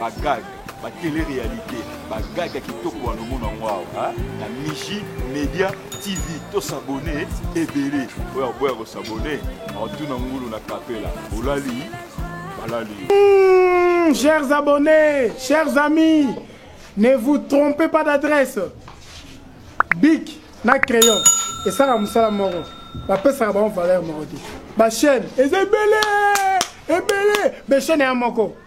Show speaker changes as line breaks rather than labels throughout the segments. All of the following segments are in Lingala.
Ba
gag, ba tele realite, ba gag ya kitoko wana omona yango awa na Miji Media TV. To s'abonner ebele. Oyo aboya ko s'abonner, aotuna ngulu na kapela. Olali, balali yo. Mmh, chers abonnés,
chers amis, ne vous trompez pas d'adresse. Bic na crayon esala mosala moko bapesaka bango valeur moko te bachaine eza ebele ebele bachaine ya moko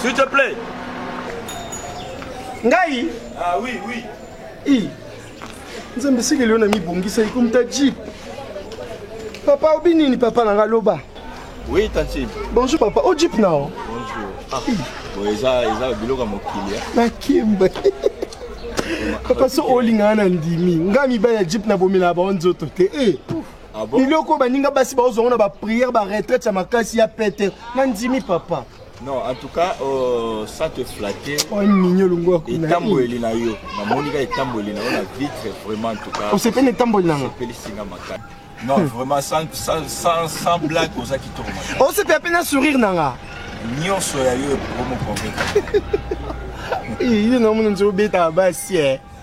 S'il te plaît.
Ngai Ah oui,
oui. I.
Nzambe sikeli yo na mibongisa ikomi ta jeep. Papa obi nini papa na nga loba. Oui, tantine.
Bonjour papa, o jeep
na o. Bonjour.
Ah. Bon, eza eza biloko ya mokili. Nakemba.
Papa so olingana na ndimi. Nga mibali ya jeep na bomela ba nzoto te. Eh. Ah bon?
biloko oyo baninga basi baozwa
yango na bapriere baretraite ya makasi ya pete nandimi papa Non, en tout cas,
euh, ça te flattait. oyo minyo longwa
kuna etambweli na yo
namoni ka etambweli na yo na vitre vraiment en tout cas osepeli na etamboli nanga
opelisi nga makasi
non vraiment sans, sans, sans, sans blague oza kitoko makasi osepela mpe na sourire
nanga nyonso ya
yo ekomokonveka
Eh, ye namona nzobeta basi eh.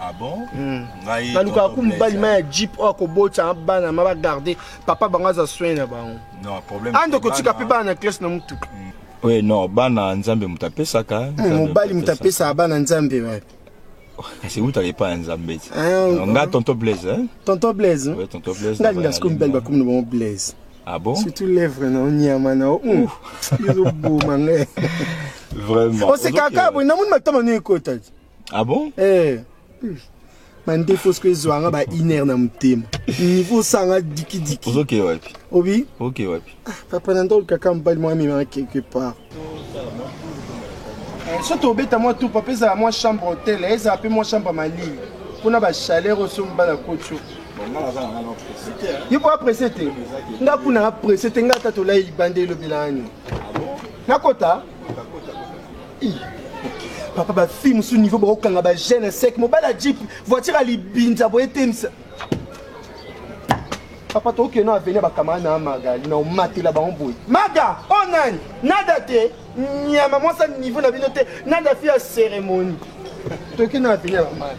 Ah bon?
Mm. Ngai nalukaka
ku mobali ma ya jeep oyo akobotisa bana ma bagarde papa bango aza soin na bango ande
kotika mpe bana na
classe na motuka mm. oye non
bana nzambe moto apesaka mm, mobali moto apesaka
bana nzambe wapi kasi
utaka epai ya nzambe ti ah, nga tonton blaise eh? tonton blaise
tonton blaise nga linga
sikoyo mibali bakomi na
bango blaise ah bon surtout
lèvre na
onyama na ezoboma ngai vraiment
osekaka
boye namoni matama no ekota ti ah bon
eh
bande fosko ezwa nga ba iner na motema niveau osanga dikidiki ozoke wapi obi
oke
wapi ah,
papa na ndolo kaka
mobali mwa amemaka quelque part eh, so tobeta mwa tupa mpe ezala mwa chambre hotel eh, ezala mpe mwa chambre malii mpo na bachaleur oso mobala kotio yo boya presse te nga kuna nga presse te nga ata tolai libanda elobelani ah nakota papa bafille mosusu niveau bakokanga bagene sec mobali ya jip voiture ya libinza boye temisa papa tokokende na avenir bakamara na magali na omatela bango boye maga o oh nani nada te nyama mwasa niveau na bino te nada fi ya cérémonie tokende na avenir ya maga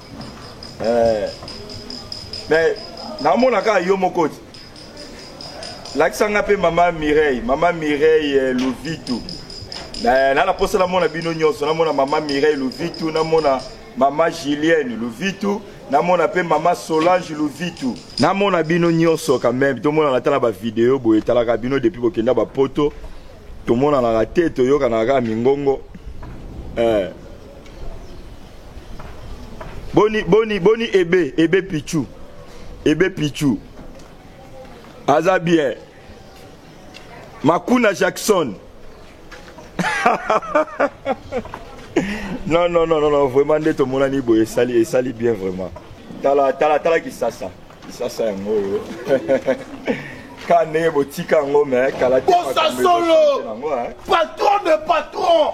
eh, mais namona kaka yo moko ti lakisa nga mpe mama mireille mama mireille eh, luvitu na na posa namona bino nyonso namona mama mireille luvitu namona mama julienne luvitu namona mpe mama solange luvitu namona bino nyonso quand même tomonana ata na bavideo boye etalaka bino depuis bokenda bapoto tomonanaka te toyokanaka kaka mingongo eh. boni boni boni ebe ebe pichu ebe pichu aza bien makuna jackson non non non non vraiment nde tomonani boye esali esali bien vraiment tala tala tala kisasa kisasa yango oyo ka ndenge botika yango me kala te bosasolo
patron de patron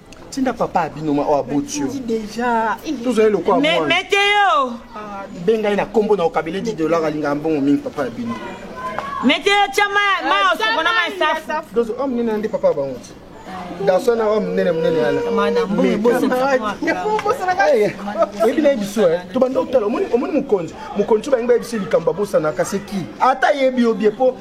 tinda papa
abino ma oyo aboti yo
tozali lokola mwana
meteo
ah, benga ye
na nkombo na okabele di dollar alingaka mbongo mingi papa abino meteo
tya maosoko na masafu dozo oyo monene nde papa
bango ti garçon na oyo monene monene wana oyebi naye biso tobanda otala omoni mokonzi mokonzi oyo balingi bayebisa likambo abosanaka se ki ata yebi yo bie mpo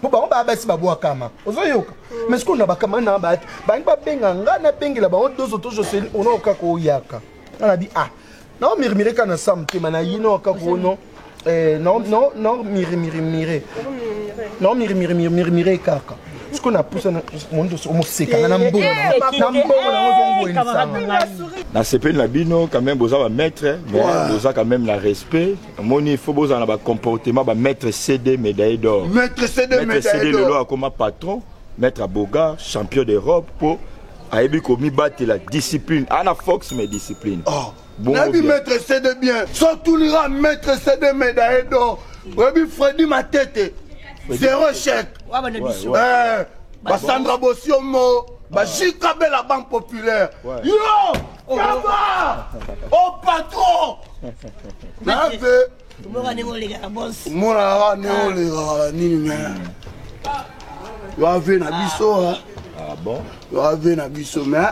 po bango baya basi babwakama ozoyoka mm. mais sikoyo na bakama na bato bangi babenga ngai nabengela bango dozo to joseli ono kaka oyaka nga nabi ah naomirmire kaka na sa motema na ye nao kaka ono eh, naomirimirimire naomirimirimire kaka sikoyo napusa mosekanga na mbongo na mbongo nango ozongwelisanga
nasepeli na bino quand même boza bamaître mais boza quand même na respect omoni il faut bozala na ba comportement ba maître cd médaille d'or maître cd médaille
d'or cd lelo akoma patron
maître aboga champion d'europe po ayebi komibatela discipline ana fox mais discipline oh. nayebi
maître cd bien sotunira maître cd médaille d'or oyebi fredi matete zéro chèque basandra bosiomo bajikabela banque populaire yo Kamba! Oh patron! Nape! Mboka ndenge olekaka boss. Mona kaka ndenge ah. olekaka nini me. Yo ave na biso ha. Ah bon?
Yo ave na
biso me.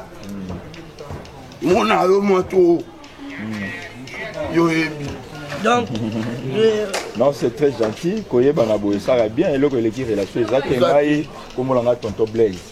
Mona yo mwa to. Yo ebi. Donc,
euh,
non c'est très gentil koyebana boye esaka bien eloko eleki relation eza te ngai komona ngai tonton blaise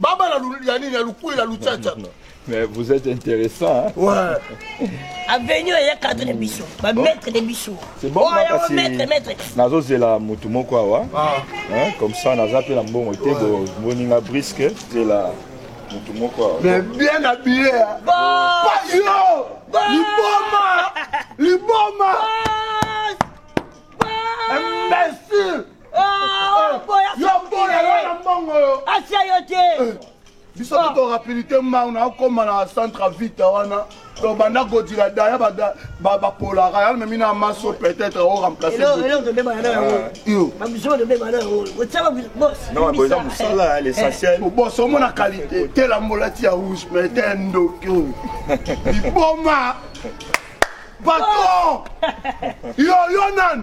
Baba la lulu ya nini ya lukuela luchacha. Mais vous êtes
intéressant. Hein? Ouais.
Avenue ya
cadre de biso. Ba oh. maître de biso. C'est bon oh, là si
maître maître. Nazo zela mutu moko awa. Ah. Hein, comme ça naza pe la mbongo te bo boninga brisque zela mutu moko awa. Mais bien habillé.
Hein. Bon. Pas yo. Bon. Liboma. Liboma. Bon. Imbécile. asia yo te
eh, biso ah. toko
rapidité mbau na okoma na centre vita wana donc banda kodila daya bapolaka ya memi na maso peut-être o
remplaceeza mosala
ya l'essentiel bos omona qualité
tela mbolati ya rouge mais te ndoki oyo liboma patron yo yo nani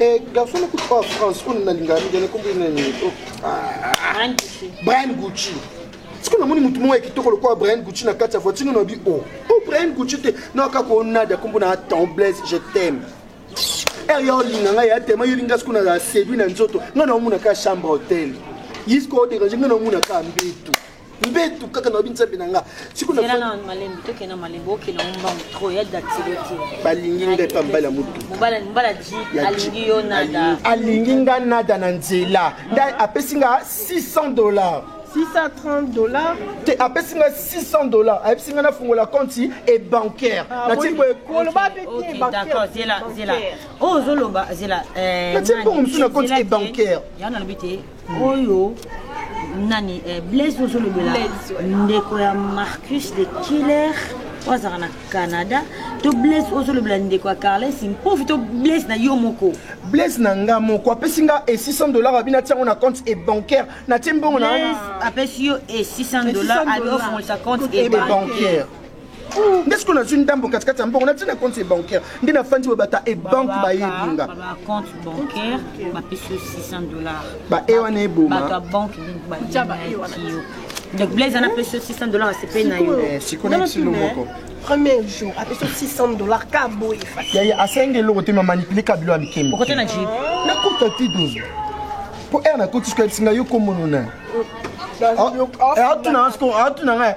Eh, garçon nakuti oyo france oyo nalingaka mingi anakombi nani brian gucci sikoyo namoni motu moko ya kitoko lokola brian gucci na kati ya voiture nano abi o oh, o oh, brian gucci te na kaka onade akombo na temblese je t'aime ere eh, ya olinga ngai ya tema yolinga sikoyo na sedui na nzoto ngai naomonaka chambre hotel ye sikoyo oderange ngai naomonaka mbetu mbetu kaka nayobi nzambe na nga
balingi ngai mpa mbali
ya
motualingi nga nada
na nzela nda apesi nga 600 dollars 630
dollars te apesi
nga 600 dollars ayebisi nga nafungola konti e bancaire ah, natie boye koloba mpe te
bancaire oyo ozoloba zela natie bongo mosusu
na konti e bancaire
oyo nani eh, blaise ozolobela ndeko ya marcus de killer oyo azalaka na canada to blaise ozolobela ndeko ya carles mpovi to blaise na yo moko blaise na nga
moko apesi nga e 600 dollar abi natia yango na compte e bancaire natie mbongo na apesi yo
e 600 dollar abi ofongolisa compte e bancaire
nde sikoyo nazwi ndambo katikati ya mbongo natina compte bancaire nde nafandi boye bata ebanke bayebi nga
bae wana
eboma donc
blaise ana apesi yo 600 dollar asepeli na yo eh, sikoyo na kilo
moko premier jour
apesi yo 600 dollar ka boye yaya asengi
eloko te mamanipule kabilo ya mikembo okote na jip
nakuta ti
dozo mpo ere nakoti sikoyo ebisinga yo komonona atuna nga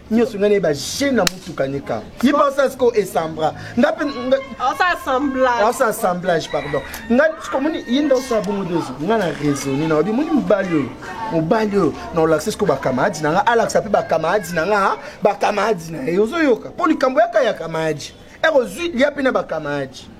nyonso ngai nayeba je na motuka nika ye mpe osala siko esambra nga mpe osa assemblage pardon nga sikomoni ye nde osala bongo dozo nga na raisonne na wabi moni mobali oyo mobali oyo na olakisa siko bakamaradi na nga alakisa mpe bakamaradi na nga bakamaradi na ye ozoyoka mpo likambo yaka ya kamaradi ekozwi lia mpe na bakamaradi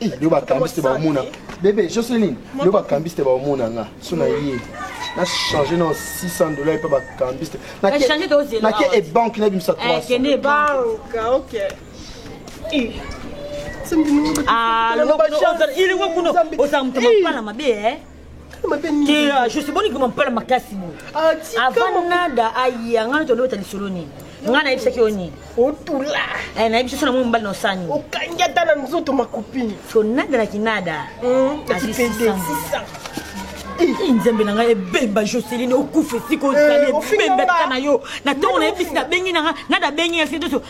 Eh, leo
bakambisi te bakomona bebe jocelyn leo bakambisi te bakomona nga so na ye na change na 600 dollar epa bakambisi te
nake ebanke nabimisa
300
ozala
moto mapala mabe juste boni koma mpala makasi boye ah, avant nada aye anga nati olobeta lisolo nini nga nayebisaki yo nini otula
eh, nayebisi so na mwa
mobali na osani okangi ata na
nzoto makopini so nada na
kinada
hmm, eh,
nzambe na ngai ebemba joseline okufa esika ozali eh, ebemba tika na yo na ntongo nayebisi nabengi na ngai nada abengi ya sitoso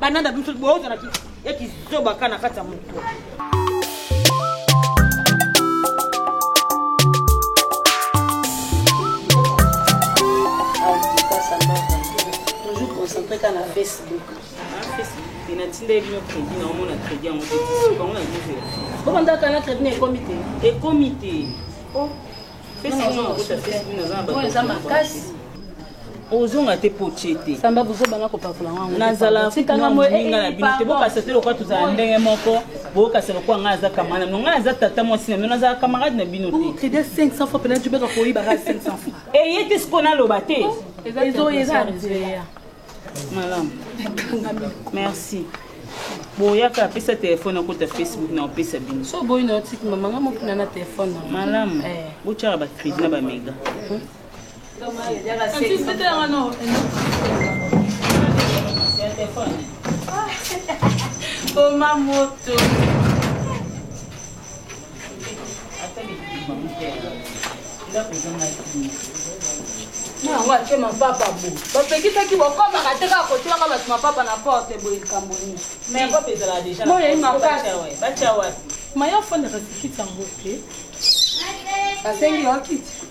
bananda biso bozala ya kizoba ka na kati ya moto
concentre ka na facebook
natindeli bino crédit na omona crédit yango te bango na bino obandaka
na crédit na ekomi te ekomi te oyo eza makasi
ozonga te po tie te samba buzoba na kopakola
yango nazala tikanga
moninga na bino te bokasa te lokola tozala ndenge moko bokasa lokola ngai aza kamara na bino ngai aza tata mwasi na bino nazala camarade na bino te
eye te sikoyo
naloba te ezoya Malamu. Merci. boyaka apesa telefone akota facebook na opesa bino so boyi na otiki mama
nga mokina na telefone malamu eh.
botyaka bacrédit na bamega
hmm? koma moto na yango ake mapapa bo bapekisaki bokomaka te kaka kotiaka bato mapapa na porte boye likambo niniboyei
makasi maye ofandaka
sikiti yango te asengi yo kiti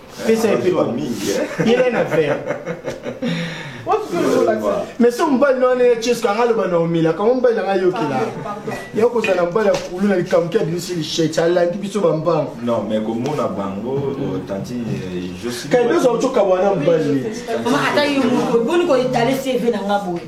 pesa ye mpe yela ye na vere mais so mobali na wana ya chesko anga aloba na omela kango mobali na ngai ayokela ya kozala na mobali ya kulu na likambo ki abimisi lishete alandi biso bambango non mais komona
bango euh, tanti euh, josi kaidoza ocoka bwana
mobali ata yo
moko boni koetale cv na nga boye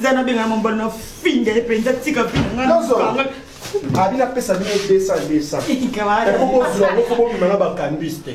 zanabengana mobali na finga ye mpenza tika vinanga
abi napesa bino 200 200 eko bozwa yango fo bobima na bakambis te